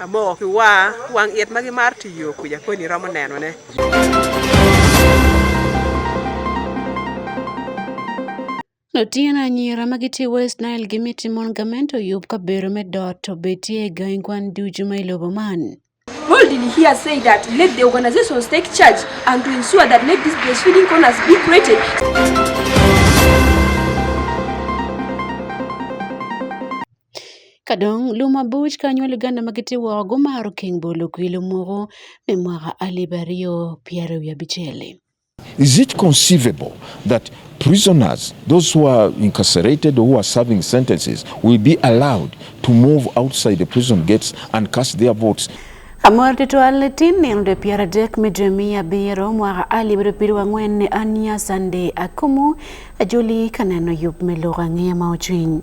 Amoko ki wa wang it ma gimaro tiyo kwija koni romo nenone. Lutino anyira ma gitye i West Nile gimiti mon gamente oyub kabedo me dot obetie i gangi kwan ducu ma i lobo man. World in here say that let the organizations take charge and to ensure that let these breastfeeding corners be created. Kadong lum abuc ka nyo Luganda ma gitye woko gumaro keng bolo kwilo mogo me mwaka alip aryo pyero wiye abicel-li. Is it conceivable that prisoners, those who are incarcerated or who are serving sentences, will be allowed to move outside the prison gates and cast their votes? Amor tutwal tin nino de pyero adek me dwe miya abiro mwaka alip abiro pido wang'wen ne ania Sunday Akumu ajoli ka neno yub me lok ang'eya ma ocwiny.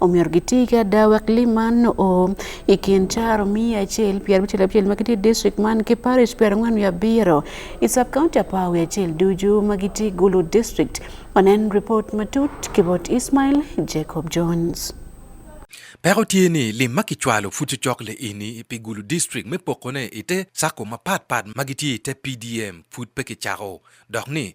omiyo giti ka dawa kliman o ikin charo mia achiel pier abichiel abichiel ma giti district man ki parish pier ang'wen mia abiro i sub county apawi achiel duju ma giti gulu district onen report matut kibot ismail jacob jones Pero tye ni lim ma kicwalo pud cocok le ini pi gulu district me pokone ite sako mapatpat ma gitye ite PDM pud pe kicako dok ni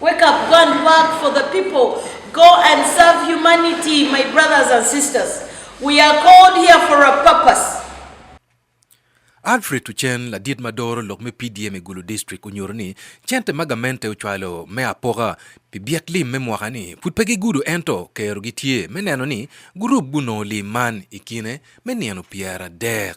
Wake up, go and work for the people. Go and serve humanity, my brothers and sisters. We are called here for a purpose. Alfred Tuchen ladit ma doro lok me PDM i Gulu District onyuto ni cente ma gamente ocwalo me apoka pi byek lim me mwaka ni pud pe gigudo ento kero gitye me neno ni gurup gunongo lim man i kine me nino pyera dek.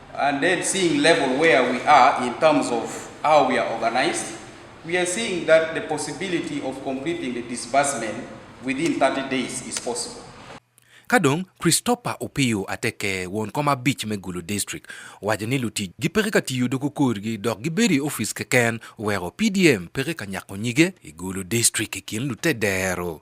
And then seeing level where we are in terms of how we are organized, we are seeing that the possibility of completing the disbursement within 30 days is possible. Kadong Christopher Opiyo Ateke won koma beach me Gulu district wajo ni luti gi peke ka tiyo doko korgi dok gibedi ofis keken wero PDM peke ka nyako nyige i Gulu district i kin lute dero.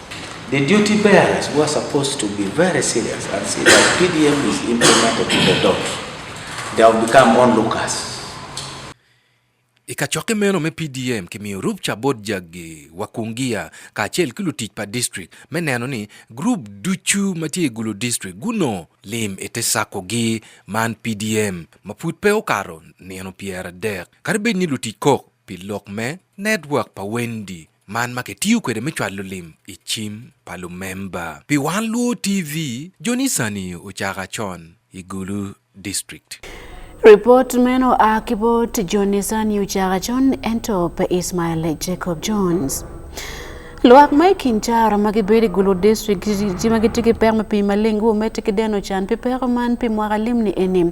The duty bearers were supposed to be very serious and see that PDM is implemented to the dot. They have become onlookers. Ikachoke meno me PDM kimiyo rup cha bot jagi wakungia ka achel kilo tich pa district me neno ni group duchu matie gulo district guno lim ete sako gi man PDM ma put pe okaro neno pier adek kare bed ni lutich kok pi lok me network pa Wendy man ma kitiyo kwede me cwalo lim i cim pa lumemba pi wan luo tv jonisani ocaka con i gulu district Report meno a ki bot Jonathan Yuchara John ento pe Ismail Jacob Jones. Lwak ma i kin caro ma gibedo i Gulu District ji ma gitye ki pek me pii maleng guwomete ki deno can pi peko man pi mwaka limni eni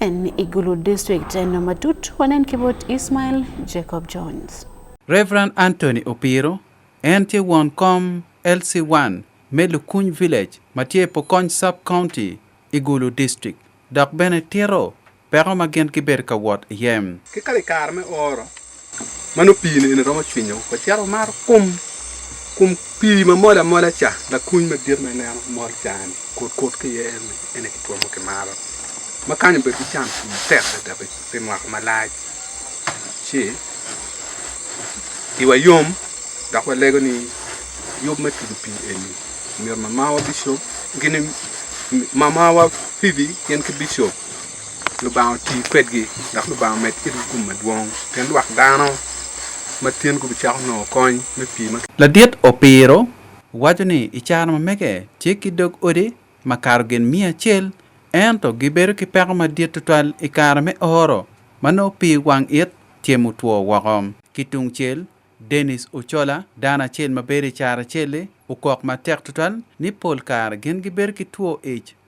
En Igulu District en matut wanen kibot Ismail Jacob Jones. Reverend Anthony Opiro en tye won kom LC1 me Lukuny Village ma tye Pokony Sub County, Igulu District dok bene tito peko ma gin gibedo ka wot iye. Ki kare i kare me oro, Mano pi ne romo chwinyo ko cero mar kum kum pi ma mol amola cha la kuny ma dir ma neno mol cha ni kot kot ki ye en en ki tuomo ki maro ma kanyo bedo ki cam pi tek da be pe mwako malac ci iwa yom dok walego ni yub me tudu pi eni myero mamawa bishop gini mamawa pibi gin ki bishop Lubanga oti kwedgi dok Lubanga med kwedgi kum madwong pien lwak dano ma tyen gubicako nongo kony me pii ma Ladit Opiro waco ni i caro ma mege tye ki dog odi ma kato gin miya acel ento gibedo ki peko madit tutwal i kare me oro ma nongo pii wang it tye mutwo woko. Ki tung cel, Denis Ochola, dano acel ma bedo i Caraceli, okok matek tutwal ni pol kare gin gibedo ki two ic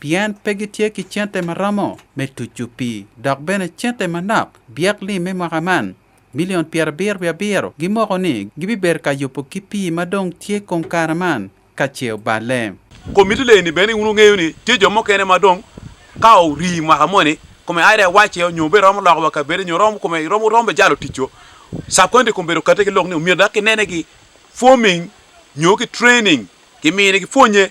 pien pe gitye ki cente ma romo me tucu pii dok bene cente manok byek lim me mwaka man milion pyerabiro wiye abiro gimoko ni gibibedo ka yubo ki pii ma dong tye kong kare man ka ce oballe. Komiti leni bene wun wungeyo ni tye jo mukene ma dong ka orii mwaka moni kome aida wacce nyo be romo loko wa kabedo nyo romo kome romo romo be jalo ticco subcounty kome bedo kate ki lok ni omyero dak kinene ki forming nyo ki training kimine ki pwonye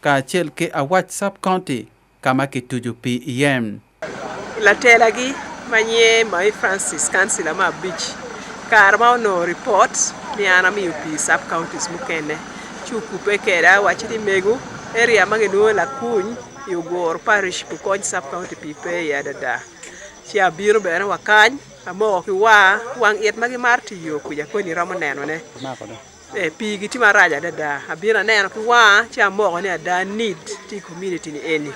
kacel ki Awac Sub County ka ma kitucu pi iye. Latelagi ma nyinge Mayi Francis kancila me abic kare ma onongo ripot ni an amiyo pi sub counties mukene ci okubbe keda wacci ni mego area ma ginwongo lakuny i Ogoro parish kukony sub county pi pe iye adada ci abino bene wa kany amoko ki wa wang it ma gimaro tiyo kwija koni iromo nenone. Eh, pigi tye marac adada abino aneno ki wanga ci amoko ni ada need tye i community ni eni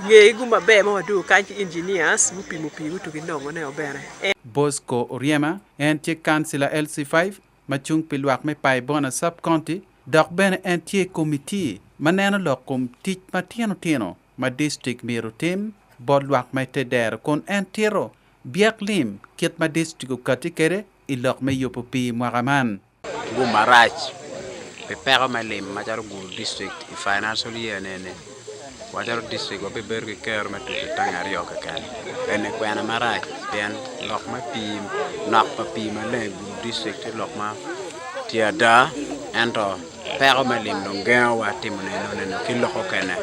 ngegi gu maber ma wadwogo kany ki engineers gupimo pii gutuki nongo ne obene en Bosco Oryema, en tye kansila LC5 ma cung pi lwak me Paibona Sub-County dok bene en tye i komiti ma neno lok kom tic matino tino ma distrik myero otim bot lwak ma ite dero kun en tito byek lim kit ma distrik okati kwede i lok me yubo pii mwaka man. Gum marac pi peko me lim macalo Gulu district i financial year nene wacalo district wabibedo ki kero me tutu tang aryo keken ene kwena marac pien lok me pii nok pa pii maleng Gulu district tye lok ma tye ada ento Peko me lim dong gengowa timo neno neno ki loko kene.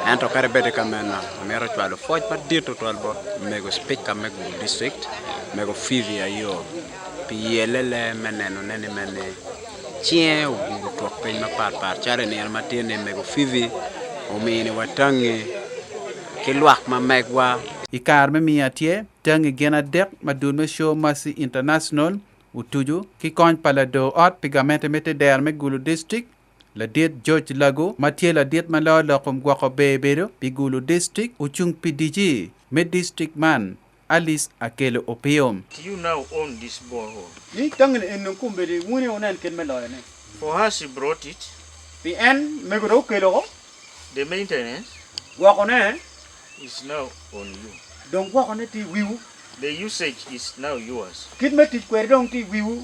Ento kare bede ka meno, mero cwalo foc madit tutwal bot mego speaker me Gulu district, mego Fivi Ayo, pi yelele me neno nene mene cinge oguru twok piny mapat pat calo nino matye ni mego Fivi omini wa tangi ki lwak ma megwa. I kare me miya tye tangi gin adek ma dul me show Mercy International Otucu ki kony pa lador ot pi gamente me te dero me Gulu District, Ladit George Lagu ma tye ladit ma loo lok kom gwoko ber bedo pi Gulu District ocung pi DC me district man Alice Akello Opio. Do you now own this borehole? Ni tangi-ni eni dong kombeddi, wun aye wunen kit me loyone. For us he brought it. Pi en, mego dong okelo-o. The maintenance. Gwokone. is now on you. Dong gwoko ne ti wiu. The usage is now yours. Kit me tic kweri dong ti wiu.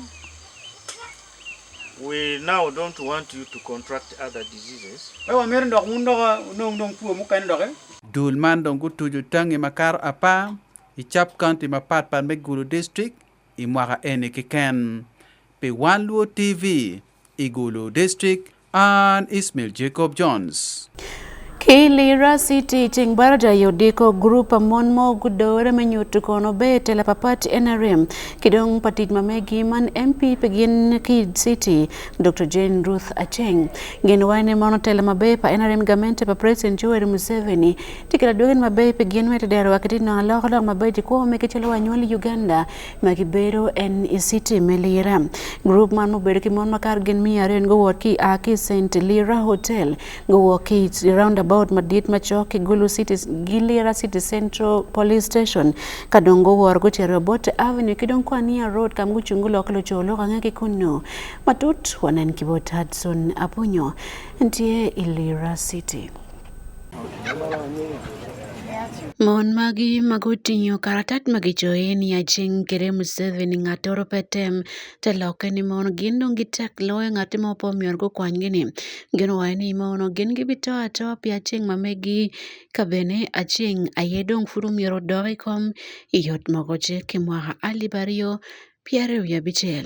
We now don't want you to contract other diseases. E wa mer ndok un ndok nong nong tuo mu kan ndok. Dul man dong ku tuju tangi makar apa i chap county ma pat pat me gulu district i mwaka eni kiken. Pi Wan Luo TV i gulu district An Ismail Jacob Jones. Kilira City ceng barada yodiko grup mon mo gudore me nyutu kono be tela papat NRM kidong patit mamegi man MP pegin ki City Dr. Jane Ruth Acheng gin wayne mono tela mabe pa NRM gamente pa President Yoweri Museveni tikila dogen mabe pegin wete dero wakati no aloko lok mabe jiko me kichelo wanyoli Uganda ma gibedo en Isiti me Lira. Grup man mubedo ki mon makar gin miya ariyo guwot ki a ki St Lira Hotel guwok ki roundabout madit macok ki Gulu City gi Lira City Central Police Station ka dong guwor gucito Obote Avenue ki dong Kwania Road kam gucung gulok luco lok ange ki kunno matut wanen ki bot Hudson Apunyo ntie i Lira City. Mon magi mago oting'o karatat ma gicoyo ni acing kede Museveni ngat oro pe tem te lokke ni mono gin dong gitek loyo ngat mo pe omyero gukwanygi ni gin owaco ni mono gin gibito atoa pi acing ma megi ka bene acing aye dong pud omyero odok i kom i yot mogo ce ki mwaka alip aryo pyeraryo wiye abicel.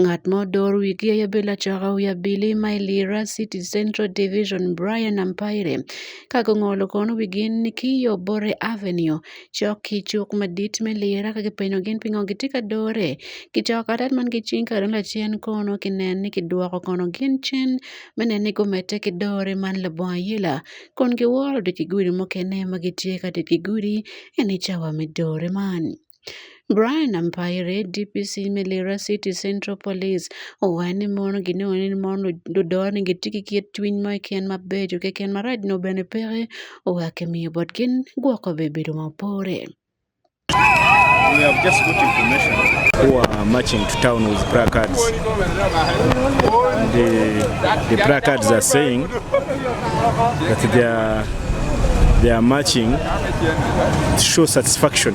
Ng'at ma odor wigi e Yabela Chakawi Abili ma Lira City Central Division Brian Ampaire kaka ong'olo kono wigi ni kiyo Bore Avenue cok ki cuk madit me Lira ka kipenyo gin pingo gitye ka dore kicoko katat man ki cing kare lacen kono kinen ni kidwoko kono gin cen me neno ni gumedde ki dore man labongo ayela kun giworo dok ki gudi mukene ma gitye ka dok ki gudi eni cawa me dore man. Brian Ampaire, DPC Melira City Central Police, owacho ni mon gi ne onen mon dodor ni gitiki kiet twiny ma ken maber jo ken maraj no bene pere owake miyo bot kin gwoko be bedo mapore. We have just got information who are marching to town with placards. And the, the placards are saying that they are, they are marching to show satisfaction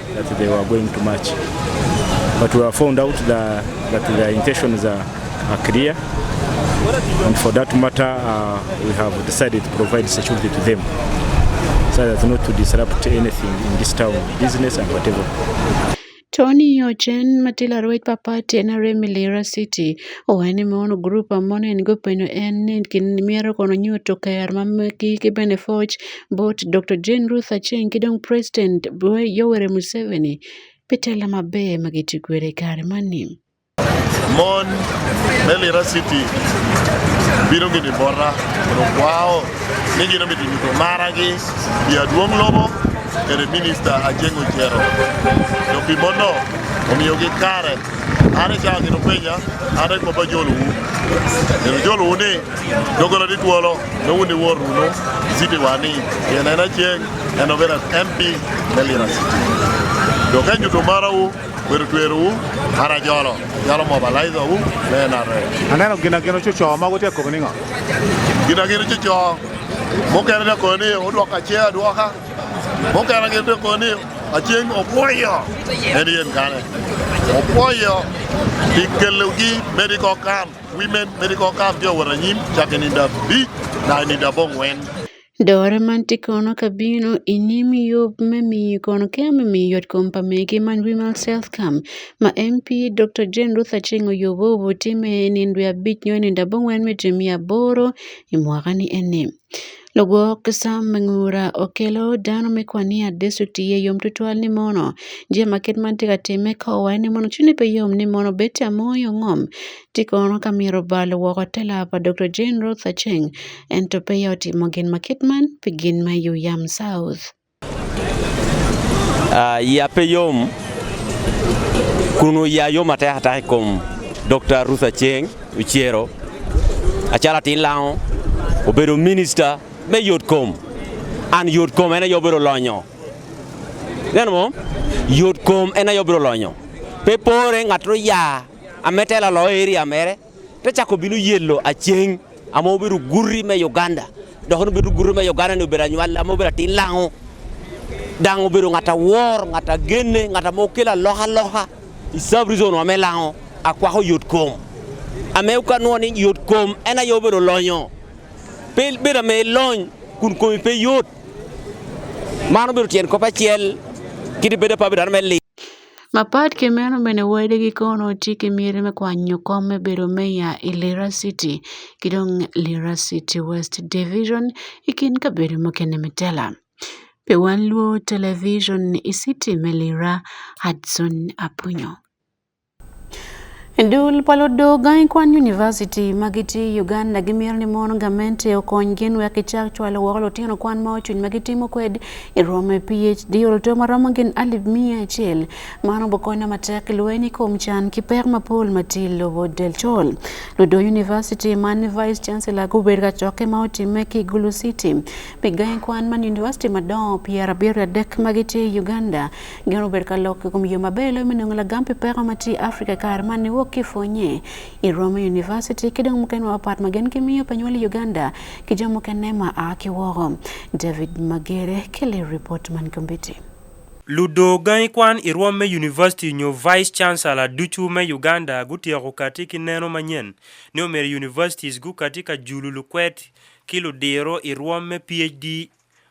that they were going to march but we have found out the, that their intentions are, are clear and for that matter uh, we have decided to provide security to them so that not to disrupt anything in this town business and whatever Tony Ochen matila ruwec pa party en arem Lira City owene ma ono group amon en go penyo en ni myero kono nyo to ker ma meki ki bene foc But Dr. Jane Ruth Acheng kidong President Yoweri Museveni pitela maber magitikwere kare mani. Mon melira city biro gini borra mondo kwao ni gino mitinito maragi jaduong' lobo kendo minista Acheng Ochero jopimono omiyogi kare an ichako gino penja an e kopa joluwu joluwu ni dogona ni thuolo Nowu ni wor runo city wani yena ena cheng eno vera MP melira city. Do ka juto mara u weru tweru u hara jolo jolo mobilize u ne na re. Aneno gina gino chucho mago te kobni ngo. Gina gino chucho mokere ne koni odwoka che adwoka mokere gino ne koni acheng opwoyo en yen kane opwoyo dikelo gi medical camp Women medical camp yo waranyim chake ni da bi na ni da bong wen. Dore man ti kono ka bino i nim yub me miyo kono ke me miyo yot kom pa mege man Women's Health Camp ma MP Dr. Jane Ruth Aceng oyobo obutime i nindo abic nyo i nindo abongwen me jemi aboro i mwaka ni ene. Lagwok ki sam me ngura okelo dano me kwan ni adeco oti i yom tutwal ni mono jami ma kit ma en tye ka timme ka owaye ni mono cwinye pe yom ni mono obed ca mo i ongom ci kono ka myero obalo woko te laa pa Dokta Jane Ruth Aceng ento peya otimo gin ma kit man pi gin ma Yuyam South. Uh, ya pe yom kuno ya yom ate hata kom Dr. Ruth Acheng Uchiero achala tin lao obedo minister me yot kom an yot kom ena yobiro lonyo neno mo yot kom ena yobiro lonyo pe pore ng'ato ya ametela lo area mere to chako bino yelo acheng ama obedo gurri me Uganda dok ni obedo gurri me Uganda ni obedo anywal ama obedo atin lango dang obedo ngata wor ngata genne ngata ma okelo aloka aloka i sub reason wa me lango akwako yot kom ame ka nwo ni yot kom en aye obedo lonyo pe bedo ame lony kun komi pe yot mano obedo tyen kop achiel kiti bedo pa bedo me li Mapat ke meno bene wede gi kono tye ki myero me kwanyo kom me bedo meya i Lira City ki dong Lira City West Division i kin kabedo mukene me tela. Pe wan lwo television i city me Lira, Hudson Aponyo. Dul pa ludogangi kwan univasiti ma gitye i Uganda gimito ni mon gamente okonygi wek gicak cwalo woko lutino kwan ma ocuny ma gitimo kwed i romo i PhD oluto ma romo gin alip miya acel. Man obukonyo matek i lweny i kom can ki pek mapol ma tye i lobo del col. Ludo univasiti man ni Vice Chancellor gubedo ka cokke ma otimme ki Gulu City pi gangi kwan man univasiti madongo pyera abiro adek ma gitye i Uganda Gin obedo ka lok i kom yo maber loyo me nongo lagam pi peko ma tye i Afrika i kare man niwok ki pwonye i Roma University ki dong mukene mapat ma gin gimiyo pa nywal i Uganda ki jo mukene ma a ki woko. David Magere kele ripot man kombiti. Ludo gangi kwan i rwom me University nyo Vice Chancellor ducu me Uganda gutyeko kati ki neno manyen ni omyero Universities gukati ka julu lukwed ki ludiro i rwom me PhD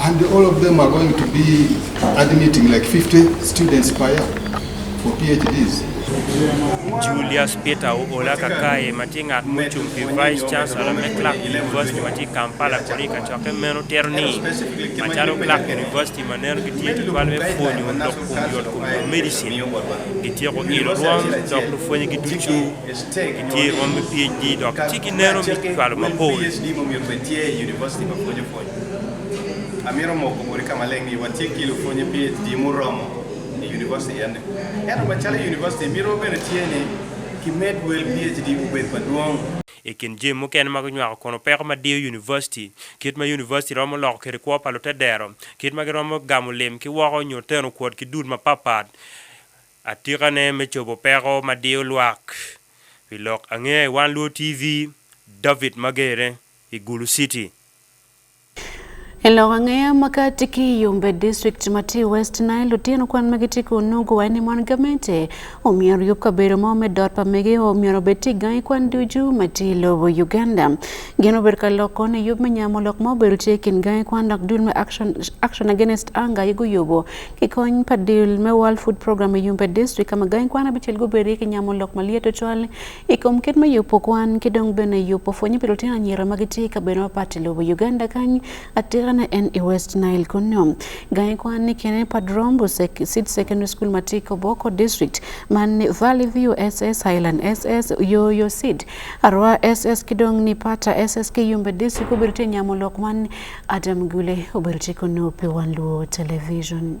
And all of them are going to be admitting like 50 students per year for PhDs. Julius Peter Ola Kakaye ma tye ngat mucung pi Vice Chancellor me Clark University ma tye Kampala koni ka cokke meno tero ni macalo Clark University ma neno gitye tutwal me pwonyo dok kom yot kom yot medicine gityeko ilo rwom dok lupwonye gi ducu gitye rwom me PhD dok ci gineno me cwalo mapol Amiro moko mori kama leng ni watie kilo fonye PhD muromo e university yande. Yato machalo e university miro bene tie ni kimed wel PhD ubed maduong'. E kin jim mukene ma gunywako kono peko ma diyo university, kit ma university romo loko kede kwo pa lute dero, kit ma giromo gamo lim ki woko nyo teno kwot ki dud ma papat, atika ne me cobo peko ma diyo lwak. Pi lok ange, Wan Luo TV, David Magere, i Gulu City. Elowang'eya makati ki yumbe district mati West Nile otieno kwan mege ti kunugu wani mon gamente omiyo yup kabero ma ome dot pa mege omiyo obet ti gai kwan duju mati lobo Uganda gino ber ka loko ne yup menyamo lok ma obedo ti kin gai kwan lok dul me action, action against anger yugo yubo ki kony pa dil me World Food Program e yumbe district kama gai kwan abichel guberi ki nyamo lok malieto chwal I kom kit me yubo kwan ki dong bene yubo pwonye pi lutino anyira ma gitye i kabedo mapat i lobo Uganda kany atirane en i West Nile kunyo. Gangi kwan ni kene Padrombo Seed Secondary School ma tye i Koboko District man ni Valley View SS Highland SS Yoyo Seed Arwa SS ki dong ni Pata SS ki Yumbe District obedo tye nyamo lok man Adam Gule obedo tye kunyo pi Wan Luo Television.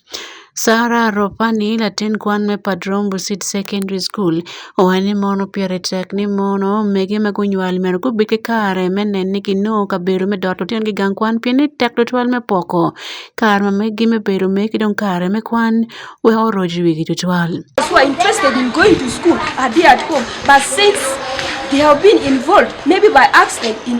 Sarah Ropani, latin kwan me Padrong Busit Secondary School, owacho ni mono pire tek ni mono omege ma gunywal myero gubed ki kare me neno ni ginongo kabedo me dot lutinogi gang kwan pien ni tek tutwal me poko kare ma meggi me bedo omer ki dong kare me kwan wek oroc i wigi tutwal. who are interested in going to school are there at home. But since they have been involved, maybe by accident, in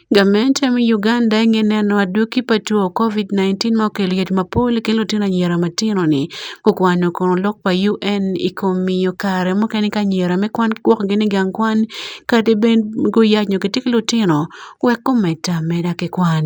Gavumenti emu Uganda eng'ene ano adwoki patu o Covid-19 ma okelo yot mapol kelo tena nyera matino ni kukwano kono lok pa UN i kom miyo kare mukene ka anyira me kwan gwokgi ni gang kwan kadi bed guyac nyo gitye ki lutino wek gumed ameda ki kwan.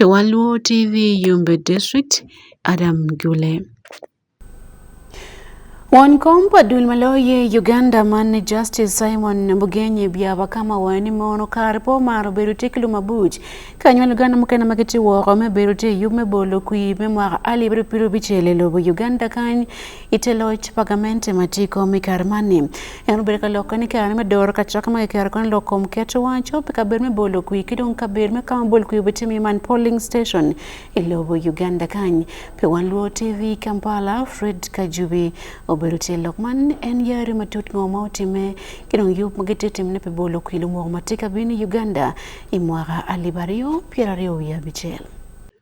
Waluo TV Yumbe District, Adam Gule. Won kompa dul maloye Uganda man Justice Simon Mbugenyi byaba kama wani mono kar po maro bedo te kilo mabuj kanyo Uganda mukena magiti woro me bedo te yume bolo kui me mwaka ali biro biro bichele lobo Uganda kany iteloch pagamente matiko mikar mani en obedo ka loko ni kare me doro ka chaka ma kare kon loko kom keto wacho pe ka ber me bolo kwi kidong ka ber me kama bol kwi bete mi man polling station ilobo Uganda kany pe wan luo TV Kampala Fred Kajubi obedo tie lok man en yare matut ngo ma otime kidong yup magete timne pe bolo kwi lumo matika bini Uganda imwaka alibario piera rio ya bichel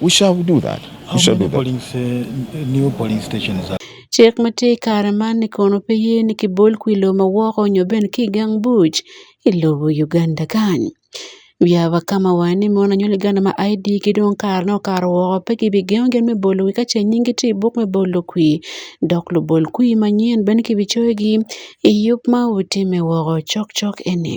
We shall do that. We How shall do many that. polling sta- new polling stations are Cik ma tye i kare man ni kono pe ye ni kibol kwi lo ma woko nyo bene ki i gang buc i lobo Uganda kany. Wiya wa ka ma wange ni mon anywali Uganda ma ID gi dong kare ne okato woko pe kibigengo gin me bolo wi ka ce nyinggi tye i buk me bolo kwi dok lubol kwi manyen bene kibicoyogi i yub ma wutimme woko cokcok eni.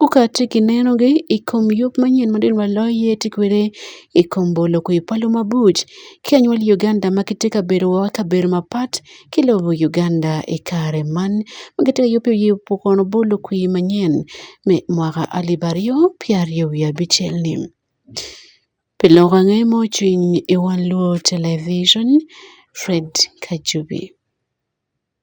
Ku ka atye ka nenogi i kom yub manyen ma dong walo iye tye kwede i kom bolo kwir pa lumabuc ki anywali Uganda ma gitye ka bedo woko i kabedo mapat ki lobo Uganda i kare man ma gitye ka yubo yub pa kono bolo kwir manyen me mwaka alip aryo pyera aryo wiye abicel-li. Pi lok ange ma ocung i wang luwo televijen Fred Kajubi.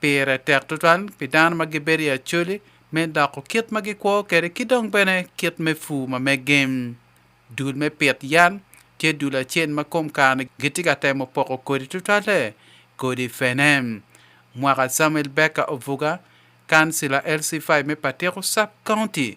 Pire tek tutwal pi dano ma gibedo i acoli me loko kit ma gikwo kwede ki dong bene kit me pur ma mege. Dul me pit yat tye dul acel ma kom kare gitye ka temo poko kodi tutwalle. Kodi fene. Mwaka Samuel Baker Ovuga, Kansila LC5 me Patiko Sub County,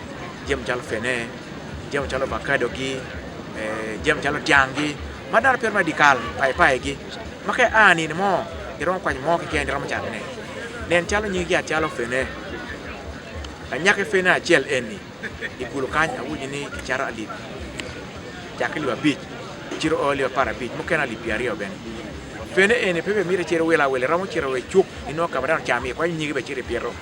Jia machalo fene, jia machalo avocado gi, eh, jia machalo tiang' gi, ma dano piro ma dikal, pai pai gi. Ma ka a nini mo, iromo kwany mo keken iromo chamo ne. Nen chalo nying gi achalo fene. Anyake fene achiel en ni, igolo kany awuji ni kicharo alip. Chak alip abich, chiro oli apar abich, moken alip piero ariyo bene. Fene en ni pepe mire chiro wila wila, romo chiro we chuk, ino kama dano chami, kwany nyingi be chiro piero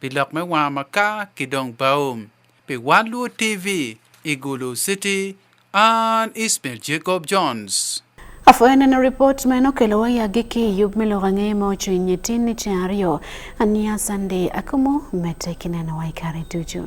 pi lok me wanga maka ki dong bao pi wan luo tv i gulu city an ismail jacob jones Afueneno ripot ma nokelo wayagi ki yub me lok ang'e ma ocwiny nyetin ni ceng aryo aniya Sunday akumo mete kineno waikare ducu.